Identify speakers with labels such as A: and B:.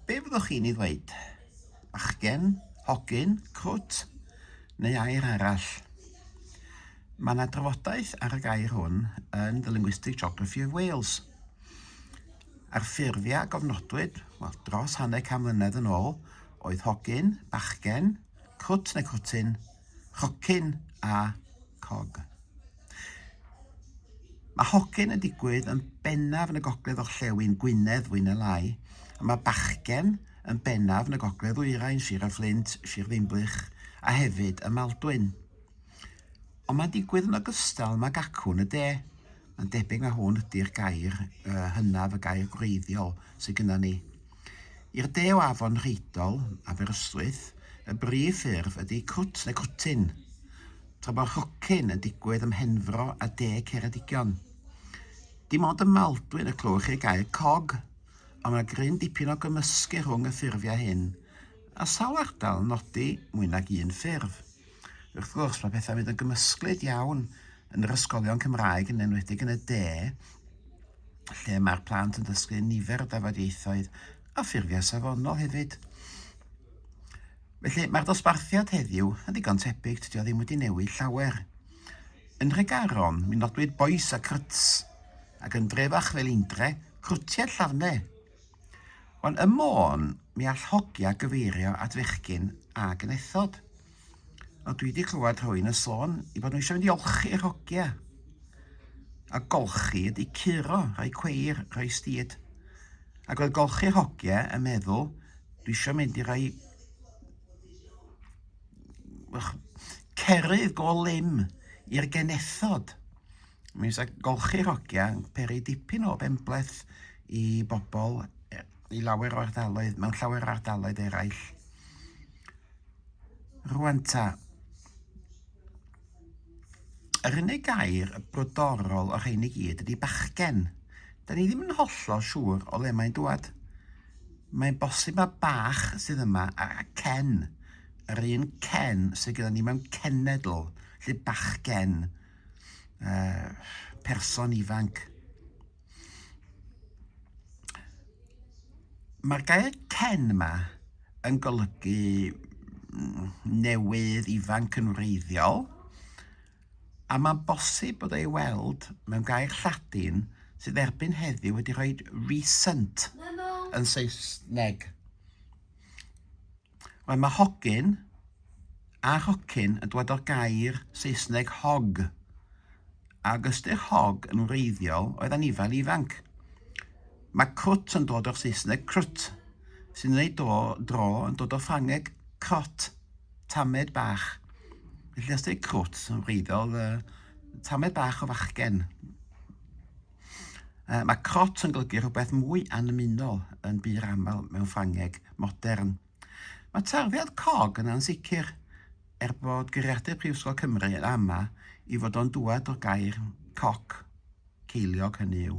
A: Be fyddwch chi'n ei ddweud? Bachgen? Hogyn? Crwt? Neu air arall? Mae yna drafodaeth ar y gair hwn yn The Linguistic Geography of Wales. A'r ffurfiau a gofnodwyd, wel, dros hanner can mlynedd yn ôl, oedd hogyn, bachgen, crwt neu crwtyn, rhocyn a cog. Mae hogyn yn digwydd yn bennaf yn y gogledd orllewin Gwynedd fwy neu lai, a mae bachgen yn bennaf yn y gogledd ddwyrain, Sir y Fflint, Sir Ddinbych a hefyd ym Maldwyn. Ond mae'n digwydd yn ogystal yma gacwn y de. Mae'n debyg na hwn ydy'r gair uh, hynaf, y gair gwreiddiol sydd gyda ni. I'r de o afon Rheidol, Aberystwyth, y brif ffurf ydy crwt neu crwtyn. tra bo rhocyn yn digwydd ym Mhenfro a De Ceredigion. Dim ond ym Maldwyn y clywch chi gair cog, ond mae gryn dipyn o gymysgu rhwng y ffurfiau hyn, a sawl ardal yn nodi mwy nag un ffurf. Wrth gwrs, mae pethau'n mynd yn gymysglyd iawn yn yr ysgolion Cymraeg, yn enwedig yn y de, lle mae'r plant yn dysgu nifer o dafodieithoedd a ffurfiau safonol hefyd. Felly, mae'r dosbarthiad heddiw yn ddigon tebyg, tydi o ddim wedi newid llawer. Yn Nhregaron, mi nodwyd bois a cryts, ac yn Drefach fel Indre, crwtiau llafne. Ond ym Môn, mi all hogia gyfeirio at fechgyn a genethod. O, dwi wedi clywed rhywun yn sôn i bod nhw eisiau mynd i olchi yr hogia. A golchi ydy curo, rhoi cweir, rhoi stid. Ac oedd golchi'r hogia yn meddwl Dwi eisiau mynd i rai... Ych, cerydd go lym i'r genethod. Mi fysa golchi'r hogia yn peri dipyn o benbleth i bobl e- i lawer o ardaloedd, mewn llawer o ardaloedd eraill. Rwan ta, Yr unig gair brodorol o'r rhein i gyd ydy bachgen. Da ni ddim yn hollol siŵr o le mae'n dŵad. Mae'n bosib mae bach sydd yma a cen, yr un cen sydd gyda ni mewn cenedl, lle bachgen, uh, person ifanc. Mae'r gair 'ten' yma yn golygu newydd ifanc yn wreiddiol, a mae'n bosib bod ei weld mewn gair Lladin sydd erbyn heddiw wedi rhoi 'recent' yn Saesneg. Wel, mae hogyn a hocyn yn dod o'r gair Saesneg hog, a ag ystyr hog yn wreiddiol oedd anifail ifanc. Mae crwt yn dod o'r Saesneg crwt, sy'n ei do, dro yn dod o'r Ffrangeg crot, tamed bach. Felly os dweud crwt yn wreiddiol, uh, tamed bach o fachgen. Mae crot yn golygu rhywbeth mwy annymunol yn bur aml mewn Ffrangeg modern. Mae tarddiad cog yn ansicr, er bod Guriadur Prifysgol Cymru yn ama i fod o'n dŵad o'r gair coc, ceiliog hynny yw.